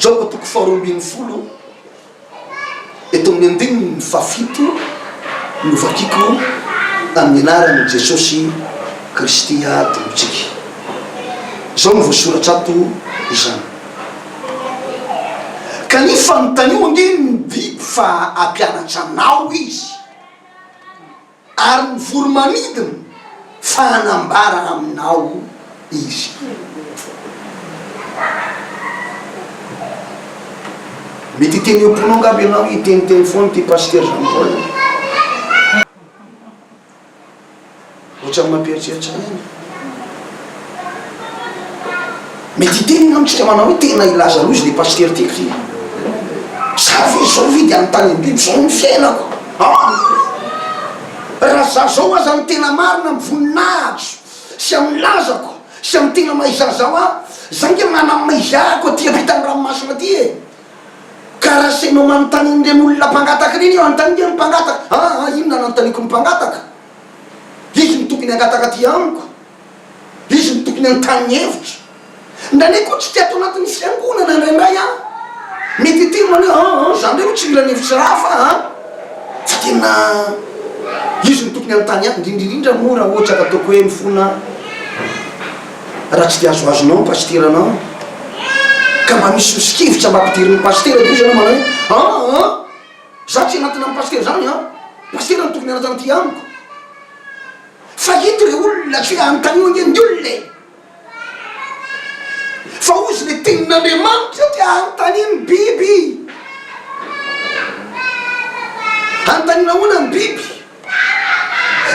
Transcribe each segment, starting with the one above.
Joba toko faharoa ambin'ny folo eto amin'ny andininy fahafito no vakiko amin'ny anaran'i Jesosy Kristy Tompontsika. Izao no voasoratra ato izany. Ka ny fanontanio ange ny biby fa hampianatra anao izy. Ary mivory manidina fa hanambara aminao izy. Mety hiteny ho mponong aby ianao hiteniteny foana ity pasteur Jean Paul ity. Ohatran'ny mampieritreritra ahy ny. Mety hiteny ianao isika manao hoe tena hilaza loza le pasitera ty kry a! Za ve izao ve de anontanian'ny biby zao ny fiainako an! Raha za zao aza no tena marina amin'ny voninahitro sy amin'ny lazako sy amin'ny tena maha izaho zaho an! Za nge manam maizahako aty ampitan'ny ranomasina aty e! Ka raha seno manontanian'ireny olona mpangataka ireny io, anontanian'ireo ny mpangataka, an an inona no anontaniako ny mpangataka? Izy no tokony hangataka aty amiko. Izy no tokony hanontany ny hevitro. Ndra anie koa tsy te ato anatin'ny fiangonana indraindray aho. Mety hiteny manao hoe, an, an, za ndray tsy mila ny hevitry ra fa, an. Fa tena Izy no tokony hanontany ahy, indrindra indrindra moa raha ohatra ka ataoko hoe mifona aho. Raha tsy dia azoazonao ny pasiteranao, ka mba misy sosokevitra mba ampidirin'ny pasitera dia hoy izy ianao manao hoe, an, an. Za tsy hanatona an'i pasitera zany an! Pasitera no tokony hanatona ty amiko fa ito le olona tsy hoe anontanio ange ny olona e! Fa ozy le tenin'Andriamanitra ty anontanio ny biby! Anontanio nahoana ny biby?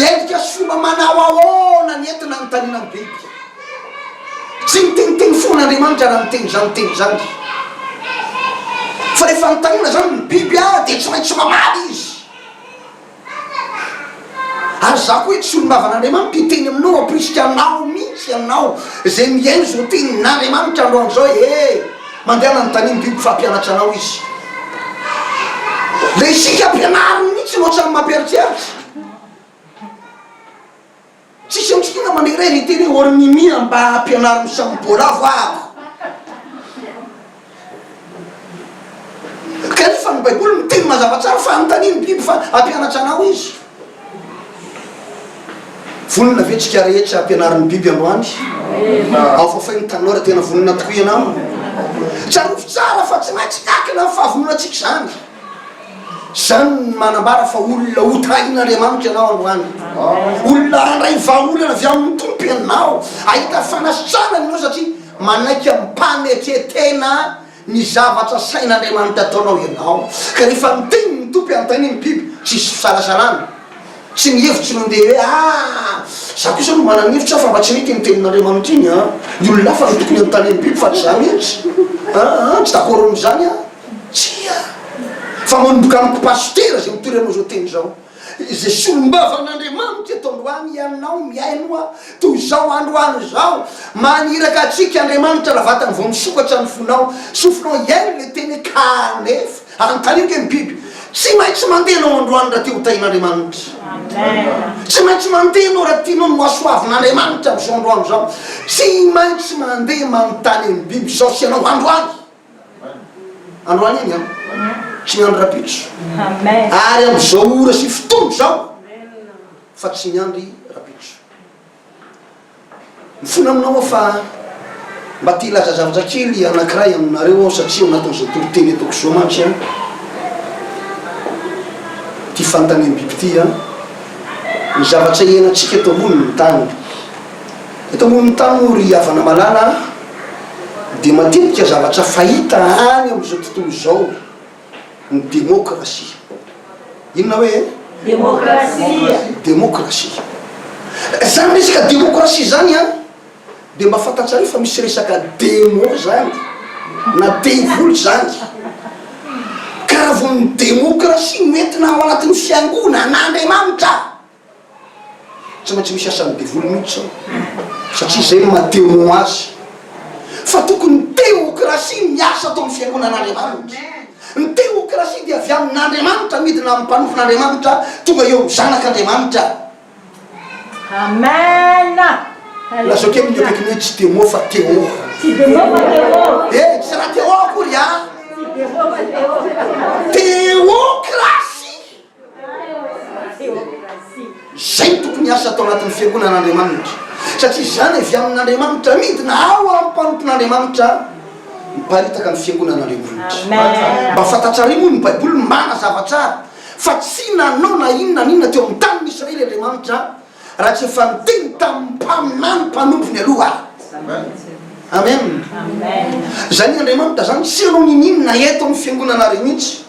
Endrika sy fomba manao ahoana ny entona anontaniana ny biby? Tsy miteniteny foana Andriamanitra raha miteny izany teny izany, fa rehefa anontaniana izany ny biby dia tsy maintsy mamaly izy. Ary izaho koa eto Solombava'n'Andriamanitra hiteny aminao hampirisika anao mihitsy ianao izay mihaino izao tenin'Andriamanitra androany izao ee. Mandehana ny tanim biby fampianatra anao izy. Le isika ampianariny mihitsy no otrany mampieritreritra. Tsisy amitsika angamba le iray niteny hoe or mimi a mba ampianaro misambo bolavo aho. Kanefa ny baiboly miteny mazava tsara fa anontaniany biby fa ampianatra anao izy. Vonona ve tsika rehetra hampianarin'ny biby androany? Aofafay ny tanora tena vonona tokoa ianao. Tsarovy tsara fa tsy maintsy miankina amin'ny fahavononantsika izany. Izany no manambara fa olona hotahin'Andriamanitra ianao androany. Olona handray vahaolana avy amin'ny Tompo ianao. Hahita fanasitranana ianao satria manaiky amin'ny mpanetretena. Ny zavatra sain' Andriamanitra ataonao ianao, ka rehefa miteny ny Tompo hanontaniany ny biby, tsisy fisalasalana, tsy ny hevitry ny ombieny hoe aa za kosa aloha manana hevitra aho fa mba tsy mety iny tenin' Andriamanitra iny an, ny olona hafa no tokony hanontaniany ny biby fa tsy za mihitsy aa tsy dakôro amin' izany aho, tsia! Fa manomboka amiko pasitera izay mitory anao izao teny izao. Izay solombavamn'Andriamanitra eto androany ianao mihaino aho toy izao androany izao, maniraka antsika Andriamanitra raha vatany vao misokatra ny fonao, sofinao hihaino ilay teny kanefa anontaniako hoe ny biby tsy maintsy mandeha anao androany raha te ho tahin'Andriamanitra? Tsy maintsy mandeha anao raha tianao ny hohasoavin'Andriamanitra amin'izao androany izao? Tsy maintsy mandeha manontany an'ny biby izao sy ianao androany? Androany iny an, sy ny andro rapitso, ary amin'izao ora sy fotoana izao, fa tsy ny andry rapitso. Mifona aminao aho fa mba te hilaza zavatra kely anankiray aminareo aho, satria ao anatin'izao toriteny ataoko izao mantsy an, ity fanontaniam-biby ity an, ny zavatra iainantsika eto ambonin'ny tany. Eto ambonin'ny tany moa ry havana malala an. dia matetika zavatra fahita any amin'izao tontolo izao ny demokrasia. Inona hoe? Demokrasia. Demokrasia. Izany resaka demokrasia izany an, dia mba fantatsareo fa misy resaka demo izany, na devoly izany. Ka raha vao ny demokrasia no entina ao anatin'ny fiangonana an'Andriamanitra, Tsy maintsy misy asan'ny devoly mihitsy zao satria zay no maha temoin azy fa tokony ny teokrasia miasa ato amin'ny fiangonan'Andriamanitra. Ny teokrasia dia avy amin'Andriamanitra midina amin'ny mpanofon'Andriamanitra tonga eo amin'ny zanak'Andriamanitra. Amen! Lazao kely ny eo akaikinao hoe tsy demo fa Téo. Tsy demo fa Téo. Eh, tsy raha Téo akory ah. Tsy demo fa Téo. Teokrasia. Izay tokony hiasa tao anatin'ny fiangonan'Andriamanitra, satria izany avy amin'Andriamanitra, midina ao amin'ny mpanompon'Andriamanitra miparitaka ny fiangonan'Andriamanitra. Mba fantatrareo moa ny Baiboly manazava tsara fa tsy nanao na inona na inona teo amin'ny tanin'i Israely Andriamanitra raha tsy efa niteny tamin'ny mpaminany mpanompony aloha. Amen. Izany Andriamanitra izany tsy hanao ninoninona eto amin'ny fiangonanareo mihitsy.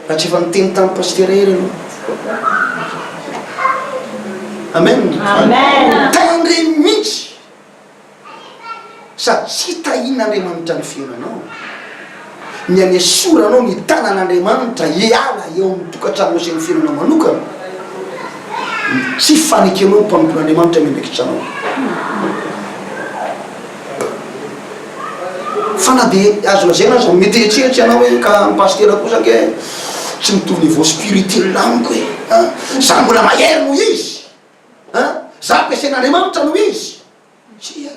Raha tsy efa niteny tamin'ny pasitera hery ianao. Amen. Amen. Tendre mihitsy sady tsy tahin'Andriamanitra ny fiainanao. Ny anesoranao ny tanan'Andriamanitra hiala eo amin'ny tokantranonao sy ny fiainanao manokana. Tsy fanekenao ny mpanompon'Andriamanitra miandraikitra anao. Fa na dia azo lazaina aza, mety hieritreritra ianao hoe, ka ny pasitera kosa ange tsy mitovy niveau spirituel amiko e! An! Za mbola mahery noho izy! An! Za ampiasain'Andriamanitra noho izy! Tsia!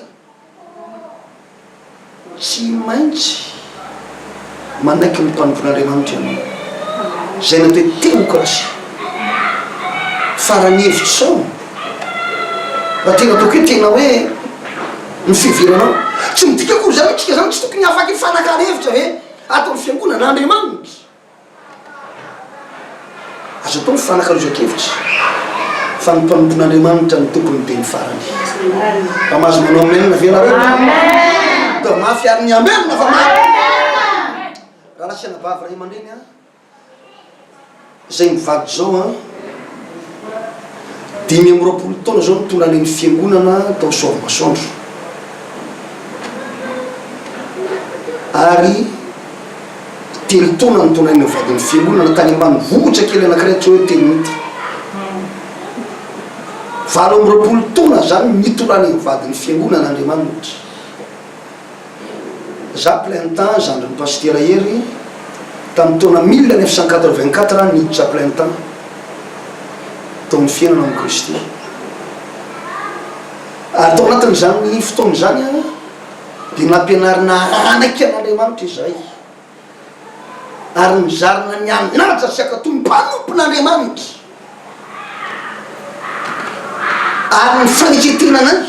Tsy maintsy. manaiky ny mpanompon'Andriamanitra ianao, izay natao hoe teokrasia. Faran'ny hevitro sao raha tena ataoko hoe tena hoe ny fiheveranao. Tsy midika akory izany hoe tsika izany tsy tokony hahafaty farakara hevitra ve ato amin'ny fiangonana? Andriamanitra. Azo atao ny fifanakalozan-kevitra fa ny mpanompon'Andriamanitra no tompon'ny teny farany. Mba mahazo manao amen ve nareo? Amen! Mba mafy ary ny amen na fa mafy. Raha lasa anabavy ray aman-dreny an, izay mivady izao an, dimy amby roapolo taona izao no tonga any amin'ny fiangonana tao Soavimasoandro. Ary Telo taona no tondrainy ny vadin'ny fiangonana tany ambanivohitra kely anankiray tsy hoe Tenite. Valo amby roapolo taona izany no nitondrany ny vadin'ny fiangonana Andriamanitra. Izaho plein temps, zandrin'i Pasitera Hery, tamin'ny taona mille neuf cent quatre-vingt-quatre aho niditra plein temps tao amin'ny fiainana amin'i Kristy. Ary tao anatin'izany fotoana izany aho. dia nampianarina hanaiky an'Andriamanitra izahay ary nizarina ny hanaja sy hankatò ny mpanompon'Andriamanitra ary ny faneketena anay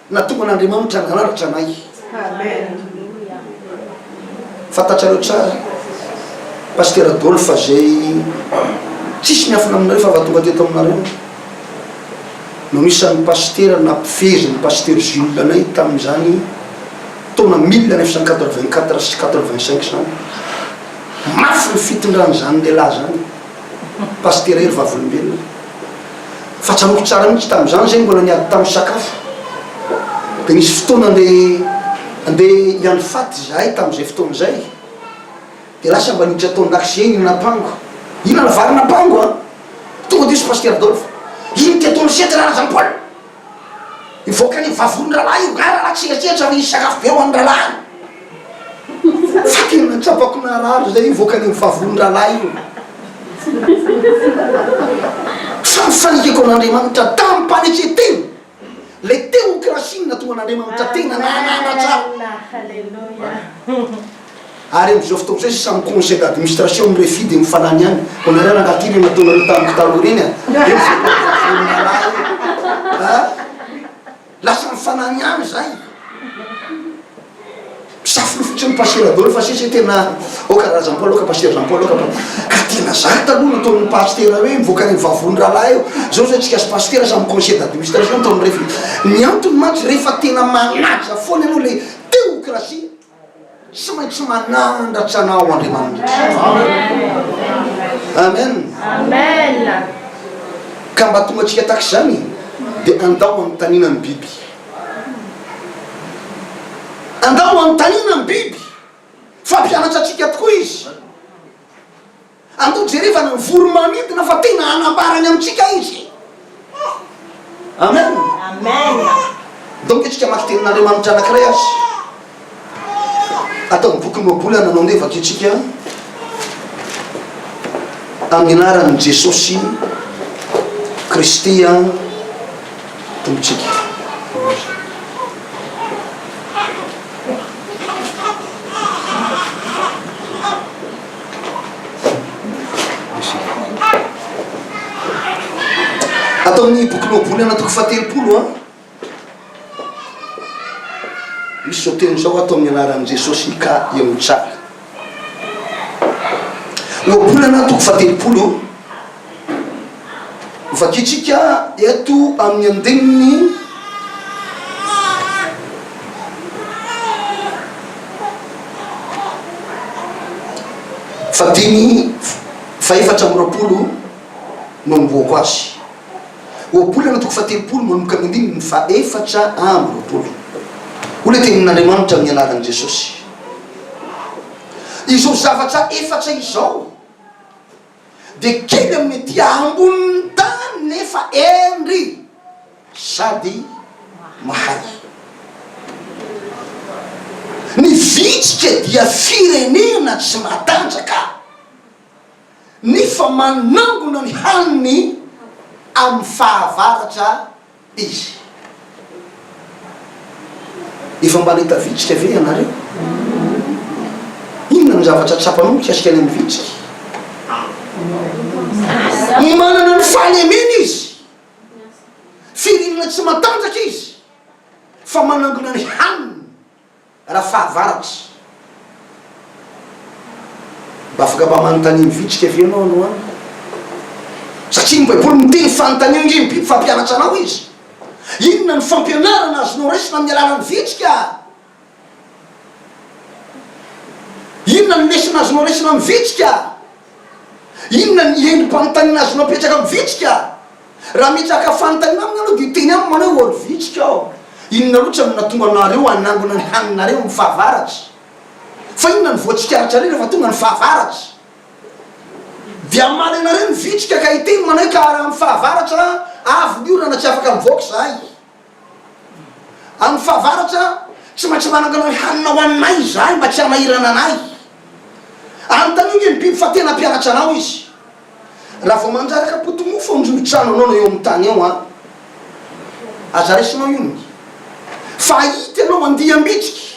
nahatonga an'Andriamanitra nanaratra anay. Fantatrareo tsara Pasteur Adolphe fa izay tsisy miafina aminareo fa vao tonga teto aminareo. no isan'ny pasitera nampivezin'ny Pasteur Jules anay tamin'izany taona mille neuf cent quatre-vingt-quatre sy quatre-vingt-cinq izany. Mafy ny fitondran'izany lehilahy izany, Pasitera Hery Vavolombelona. Fa tsaroako tsara mihitsy tamin'izany izay mbola niady tamin'ny sakafo. Dia nisy fotoana andeha andeha hiandry faty izahay tamin'izay fotoana izay. Dia lasa mba niditra tao an-dakozia iny napango. Inona no vary napango an? Tonga dia hoy Pasitera Adolphe, Iny teto amin'ny sety ra Jean Paul. Hivoaka ny vavony rahalahy io nga rahalahy tsenatsenatra ary hisy sakafo be ho an'ny rahalahy. Fa tena nahatsapako naharary izay hivoaka ny vavony rahalahy io. Fa ny fanekeko an'Andriamanitra tamim-panetren-tena. Ilay teokrasia no nahatonga an'Andriamanitra tena nananatra. Ary amin'izao fotoana izao sisa ny conseil d'administration ny refi dia mifanany ihany. Koa nareo rangahy ty ireny nataonareo tamiko taloha ireny a! Eo izay vono malahy e! a! Lasa mifanany ihany izay. Mpisafo lofotry ny pasitera daholo fa sisa tena ao karazam-po aloha ka pasitera zany po aloha ka ka tena zany taloha no ataon'ny pasitera hoe mivoaka any vavony rahalahy eo zao zao tsika sy pasitera samy conseil d'administration atao ny refiny ny antony mantsy rehefa tena manaja foana ianao le teokrasia tsy maintsy manandratra anao andriamanitra amen amen ka mba tonga tsika tax zany dia andao anontaniana ny biby Angamba hanontaniana ny biby fa mpianatra antsika tokoa izy. Andeha hojerevana ny voro-manidina fa tena hanambara ny amintsika izy. Amen. Donko isika maki tenin'Andriamanitra anankiray aza. Ataon'ny bokin'ny Baiboly nanonevaka antsika amin'ny anaran'i Jesosy Kristy Tompontsika. Ataon'ny bokin'ny Baiboly anatoko fahatelopolo a. Misy teny izao ato amin'ny anaran'i Jesosy Ika ianao tsara. Ohabolana toko fahatelopolo no vakintsika eto amin'ny andininy fahadimy fahefatra amby roapolo no anombohako azy. Ohabolana toko fahatelopolo manomboka amin'ny andininy fahefatra amby roapolo. Hoy ilay Tenin'Andriamanitra amin'ny anaran'i Jesosy, Izao zavatra efatra izao dia kely amin'ny aty ambonin'ny tany nefa hendry sady mahay. Ny vitsika dia firenena tsy matanjaka. ny fa manangona ny haniny amin'ny fahavaratra izy. Efa mba nahita vitsika ve ianareo? Inona no zavatra tsapanao mikasika ny amin'ny vitsika? Manana ny fahalemeny izy, firinana tsy matanjaka izy, fa manangona ny haniny. Rafahavaratra, mba afaka mba manontania mivitrika ve ianao androany? Satria ny Baiboly miteny fa anontania ange ny biby fampianatra anao izy. Inona no fampianarana azonao raisina amin'ny alalan'ny vitrika? Inona no lesona azonao raisina amin'ny vitrika? Inona ny herim-panontaniana azonao apetraka amin'ny vitsika? Raha mitraka fanontaniana aminy ianao dia teny aminy manao hoe, Ry vitsika ô, inona loatra no nahatonga anareo hanangona ny haninareo amin'ny fahavaratra? Fa inona no voatsikaritra-reo rehefa tonga ny fahavaratra? Dia hamaly anareo ny vitsika ka hiteny manao hoe, Ka raha amin'ny fahavaratra avy ny orana tsy afaka mivoaka izahay. Amin'ny fahavaratra, tsy maintsy manangana ny hanina ho aninay izahay mba tsy hanahirana anay. Anontaniho ve ny biby fa tena mpianatra anao izy. Raha vao mandraraka poti-mofo amin'ny rivo-trano anao na eo amin'ny tany eo, aza raisinao io ny fahita ianao andiam-bitsiky.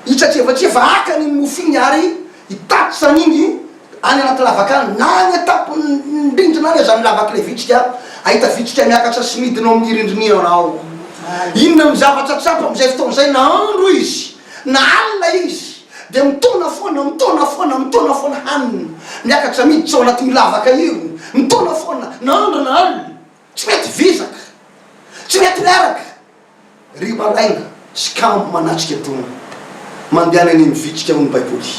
Hitratrevatreva hakany iny mofo iny ary hitatsany iny any anaty lavaka any, na any an-tampon'ny rindrina any aza ny lavak'ilay vitsika, hahita vitsika miakatra sy midina ao amin'ny rindrina ianao. Inona no zavatra tsapa amin'izay fotoana izay? Na andro izy, na alina izy, dia mitaona foana, mitaona foana, mitaona foana hanina, miakatra miditra ao anatin'io lavaka io, mitaona foana, na andro na alina. Tsy mety vizaka, tsy mety miaraka. Ry malaina sy kamo manatrika dona, mandehana eny mivitrika hoy ny Baiboly.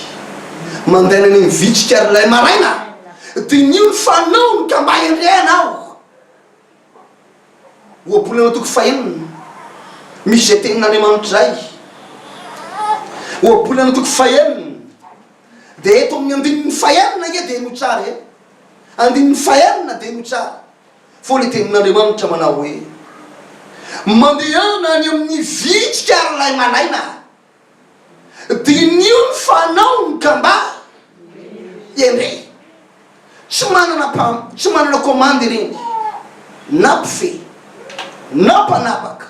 Mandaina eny mivitrika ary ilay maraina. Diniho ny fanaony ka mba endrey ianao. Ohabolanao toko fahenina, misy izay tenin'Andriamanitra izay. Ohabolanao toko fahenina, dia eto amin'ny andininy fahenina anie dia heno tsara e. Andininy fahenina dia heno tsara. Fony ny tenin'Andriamanitra manao hoe, Mandehana any amin'ny vitrika ry lahy malaina, diniho ny fanaony ka mba endrey. Tsy manana mpam, tsy manana komandy ireny, na mpifehy, na mpanapaka,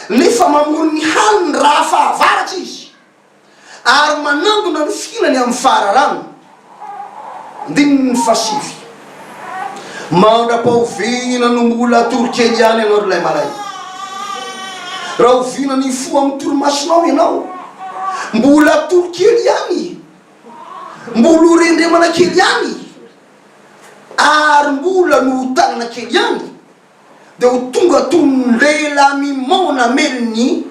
nefa mamory ny haniny raha fahavaratra izy. ary manangona ny fihinany amin'ny fahararana. Andininy fahasivy. Mandra-pahoviana no mbola hatory kely ihany ianao ry lahimalay? Rahoviana ny hifoha amin'ny torimasonao ianao? Mbola hatory kely ihany? Mbola ho rendremana kely ihany? Ary mbola nohotanana kely ihany? dia ho tonga toy ny lehilahy mimaona hamely ny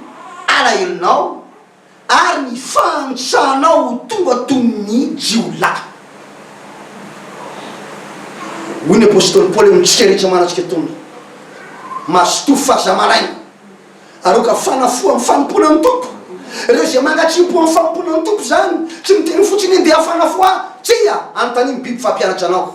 alahelonao, ary ny fahantsahanao ho tonga toy ny jiolahy. Hoy ny apostoly Paoly amintsika rehetra manatrika atoandro, Mazotoa faza maraina, aroaka fanafo amin'ny fanompoana ny Tompo. Ireo izay mangatri-po amin'ny fanompoana ny Tompo izany tsy miteny fotsiny hoe ndeha fanafo ahy. Tsia, anontanian'ny biby fampianatra anao.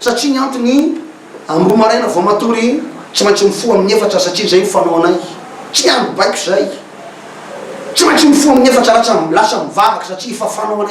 Satria ny antony, amin'ny roa maraina vao matory, tsy maintsy mifoha amin'ny efatra satria izay no fanaonay. Tsy miandry baiko izay. Tsy maintsy mifoha amin'ny efatra lasa lasa mivavaka satria efa fanaonay.